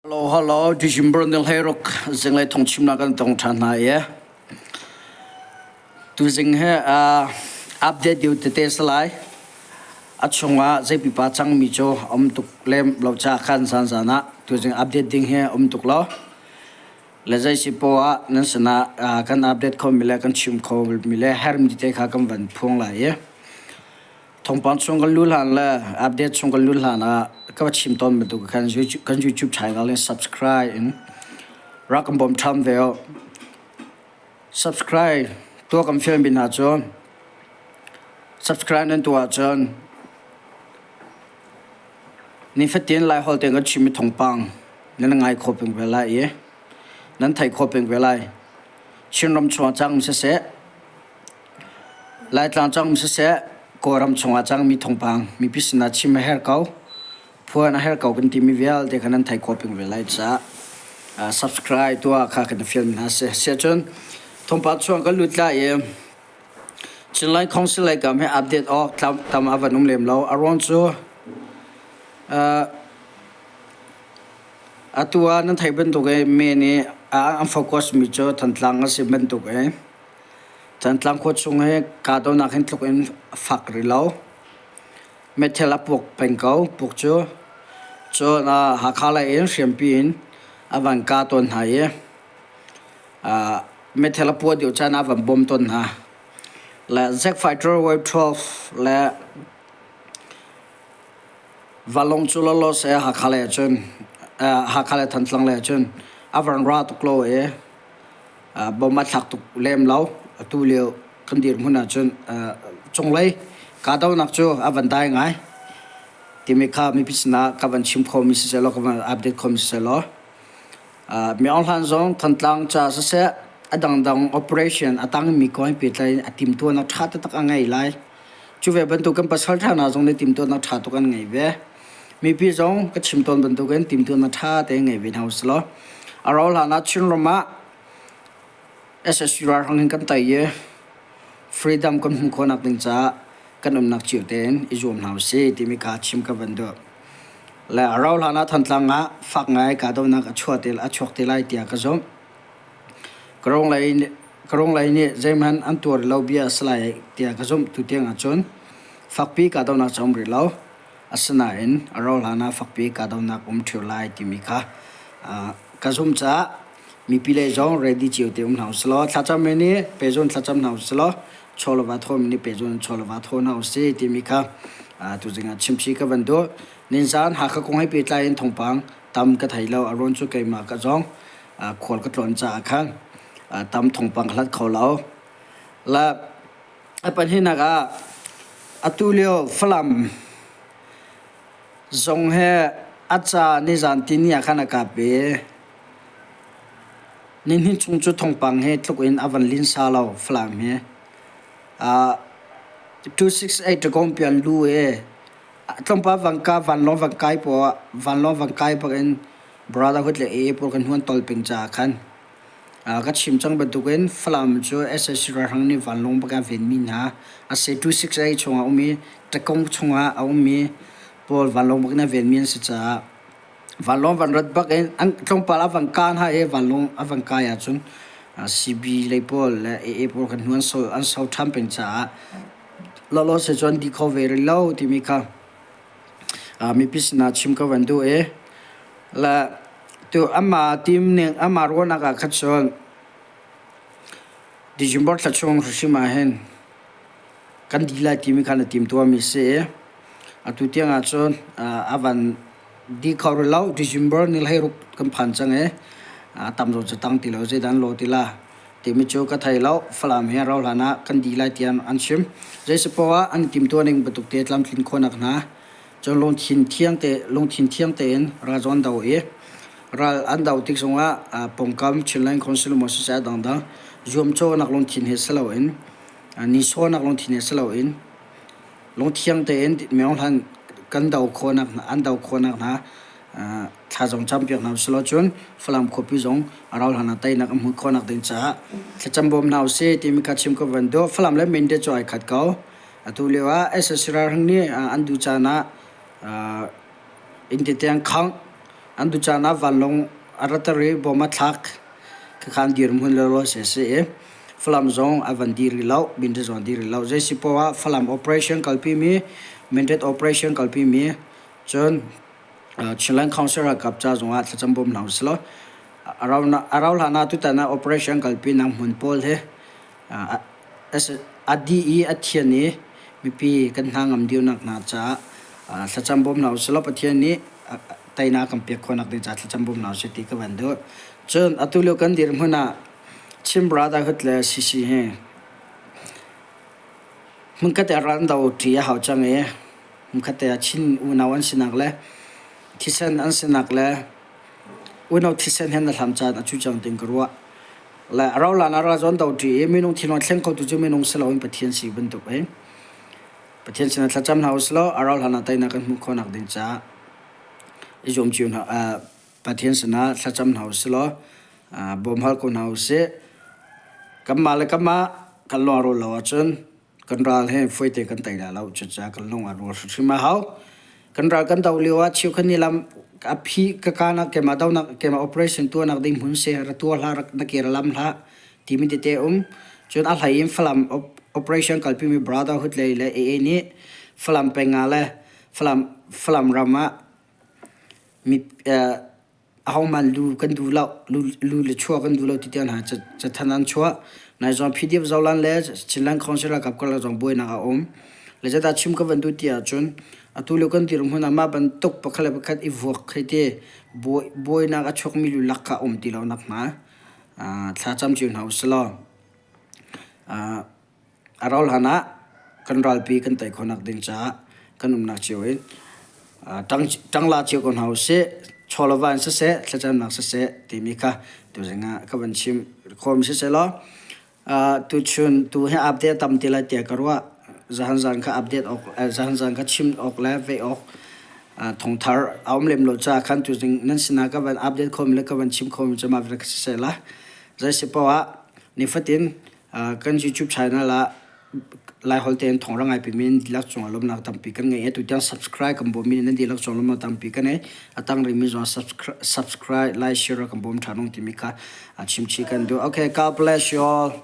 Halo halo December ni hlei ruk zing lai thong chim na kan tong than hna ye tu zing he update yu tete salai a chunga zei pipa chang mi cho om tuk lem lo cha khan san sana tu zing update ding he om tuk lo le zai si po a nan sana kan update kho mi le kan chim kho mi le her mi te kha kan van phung lai ye Thongpang chung kan lu hlan le update chung kan lu hlan ah ka va chim tawn bantuk khan kan YouTube channel in subscribe in rak kan bawm tham ve oh. Subscribe tua kan fian bin ha cun subscribe nan tu ah cun ni fatin lai hol ten kan chim mi thongpang nan ngai kho peng ve lai i nan thai kho peng ve lai Chin ram chuang chang se se Laitlang cangmi siseh, Kawlram chungah cangmi thawngpang mipi sinah chim a herh ko. Phuan a herh ko kan timi vialte kha nan thei khawh peng ve lai caah subscribe tuah kha kan i fialmi hna si. Siahcun thawngpang chung kan lut lai i Chinland Council lei kam hi update awk tam a van um lem lo. A ruang cu atu ah nan theih bantuk i mee nih an focus mi cu Thantlang a si bantuk i Cantlang khua chung hi kahdohnak hin tluk in a fak rih lo. Meithal a puk peng ko. Puk cu cun ah Hakha lei in hriampi in a van kah tawn hna i ah meithal a puah deuh caan ah a van bawm tawn hna. Le Zack Fighter Wave 12 le Valawng cu lawlaw seh Hakha lei ahcun eh Hakha le Thantlang lei ahcun a van ra tuk lo i bom a thlak tuk lem lo. Atu lio kan dirhmun ahcun cunglei kahdohnak cu a van dai ngai. Timi kha mipi sinah ka van chim khomi sisehlaw, ka van update khomi sisehlaw, miohlaan zong Thantlang ca siseh, a dangdang operation a tangmi ko in pehtlai a timtuan a ṭha taktak a ngei lai. Cu ve bantuk kan pasal ṭha hna zong nih timtuannak ṭha tuk an ngei ve. Mipi zong ka chim tawn bantukin timtuan a ṭha te ngei ve hna usih law a rauh hlan ah Chinram ah SSU ralhrang in kan tei i freedom kan hmuh khawhnak ding caah kan umnak cio tein i zuam hna usih timi kaa chim ka van duh. Le a rauh hlan ah Thantlang ah fak ngai kahdohnak a chuah te a chuak te lai tiah ka zumh. Karung lei karung lei nih zeihmanh an tuar lo bia a si lai tiah ka zumh tu tiang ahcun fakpi kahdohnak ca um rih lo. Asinain a rauhhlan ah fakpi kahdohnak um ṭheo lai timi kha ka zumh caah mipile zong ready cio te um hlah usilaw thlacam men i pehzulh thlacam hna usilaw chawlava thawmi nih pehzulh in chawlava thaw hna usih timi kha tuzing ah chimchih ka van duh. Nizaan Hakha kong he pehtlai in thawngpang tam ka thei lo. A ruang cu keimah ka zong khual ka tlawn caah khan tam thawngpang ka hlat kho lo. Le A pahnihnak ah atu lio Falam zong he a ca nizan tini ah khan a kap i nihnih chung cu thongpang he tluk in a van linsa lo Falam hi. Uh, 268 ṭagawng pian lu i tlawmpal van ka vanlawng van kai paw vanlawng van kai bak in brotherhood le e pur kan huan tol ping caah khan Ka chim cang bantukin Falam cu SSC ralhrang nih vanlawng bak ah a venmi hna asi. Two sixty chung ah a um i Tekong chungah a um i pawl vanlawng bak in a venmi an si caah vanlawng van rat bak in tlawmpal a van kah hna i vanlawng a van kai ahcun CB lei pawl le AA pawl kan hnu an so ṭhan peng caah lawlaw sicun an di kho ve rih lo timi kha mipi sinah chim ka van duh i la tu ama team ning ama ruahnak ah khat cun December thla chung hrim ah hin kan di lai timi khan a tim tuami si i atu tiang ah cun a van di kho rih lo December ni hlei ruk kan phan cang i a tam zawt cu tang ti lo zeidan lo ti la timi cu ka thei lo. Falam he rau hlan ah kan dih lai tiah an chim. Zeispaoh ah an timtuah ning bantuk te tlamtlin khawhnak hna cun lungthin thiang te lungthin thiang tein ralzaw an do i ral an do tik zongah ah pawngkam Chinland Council maw sisai dangdang zuamcawhnak lungthin he si loin nihsawhnak lungthin he si loin lungthiang tein miohlan kan do khawhnak an do khawhnak hna thlazong champiak hna usih law cun Falam khuapi zong a rau hlan ah teinak a hmuh khawhnak ding caah thlacam bawm hna usih timi kha chim ka van duh Falam le Mende cu ai khat ko atu lio ah SSC ralhrang nih an duh caan ah innte tiang khangh an duh caan ah vanlawng a ratter i bom a thlak khakha an dir hmun lawlaw si a si i Falam zong a van dir rih loh Mende zong a dir rih loh zei si poah ah Falam operation kalpimi Mended operation kalpimi Cun Chinland Council ralkap ca zongah thlacam bawm hna usih law a rau hlan ah tutan ah operation kalpi nak hmun pawl hi a dih i a thian i mipi kan hna ngam dio nak hna caah thlacam bawm hna usih law Pathian nih teinak kan pek khawh nak ding caah thlacam bawm hna usih ti ka van duh. Cun atu lio kan dir hmun ah Chin Brotherhood le CC hi hmunkhat i a ran do ṭi a hau cang i Hmukhatte ah Chin unau an sinak le thisen an sinak le unau thisen hen a hlam caan a cu cang ting ka ruah. Le a rolan a ra zawn do ṭi i minung thingon thleng khotu cu minung si loin Pathian si bantuk i Pathian sinah thlacam hna usilaw a rohlan ah teinak kan hmuh khawhnak ding caah i zuam cio hna uh, Pathian sinah thlacam hna usilaw uh, bawm hal ko hna usih. Kanmah le kanmah kan lawng a rul lo ahcun kan ral he foite kan tei la lo cucaah kan lung a rual hrimhrim a hau kan ral kan doh lio ah cheukhat nih lam a phi ka ka nak keimah do nak keimah operation tuah nak ding hmun seh ra tuah hlah rak na ke ra lam hlah timi tete um cun a hlei in Falam operation kalpi mi brotherhood lei le AA nih Falam peng ah le Falam Falam ram ah mi eh ahohmanh lu kan du lo lu le chuah kan du lo ti tiang hna cu cathanh an chuah nai zong PDF zohlan le Chinland Council ralkap karlak zong buainak a um le zedah chim ka van duh ti ahcun atu lio kan dirhmun hmun ah mah bantuk pakhat le pakhat i vuak khi ti buainak a chuakmi lu lak kha a um ti lo nak hnga thlacam cio hna usih law. A rauh hlan ah kan ralpi kan tei khawhnak ding caah kan umnak cio in ṭangla cio ko hna usih, chawlava in siseh, thlacamnak siseh timi kha tuzing ah ka van chim khawhmi sisehlaw tuchun tu hi update a tam ti lai tiah ka ruah. Zahan zaan kha update awk zahan zaan kha chim awk le vei awk thongthar a um lem lo caah khan tuzing nan sinah ka van update khomi le ka van chim khomi cu mah vialte kha sisehla. Zei si poah nifatin kan YouTube channel ah Lai holte an thong rangai pi min dilak chung alom nak tampi kan ngai tu tiang subscribe kan bom min nan dilak chung lom tampi kan e atang ri min zo subscribe like share kan bom thanong ti mi ka chim chi kan do okay god bless you all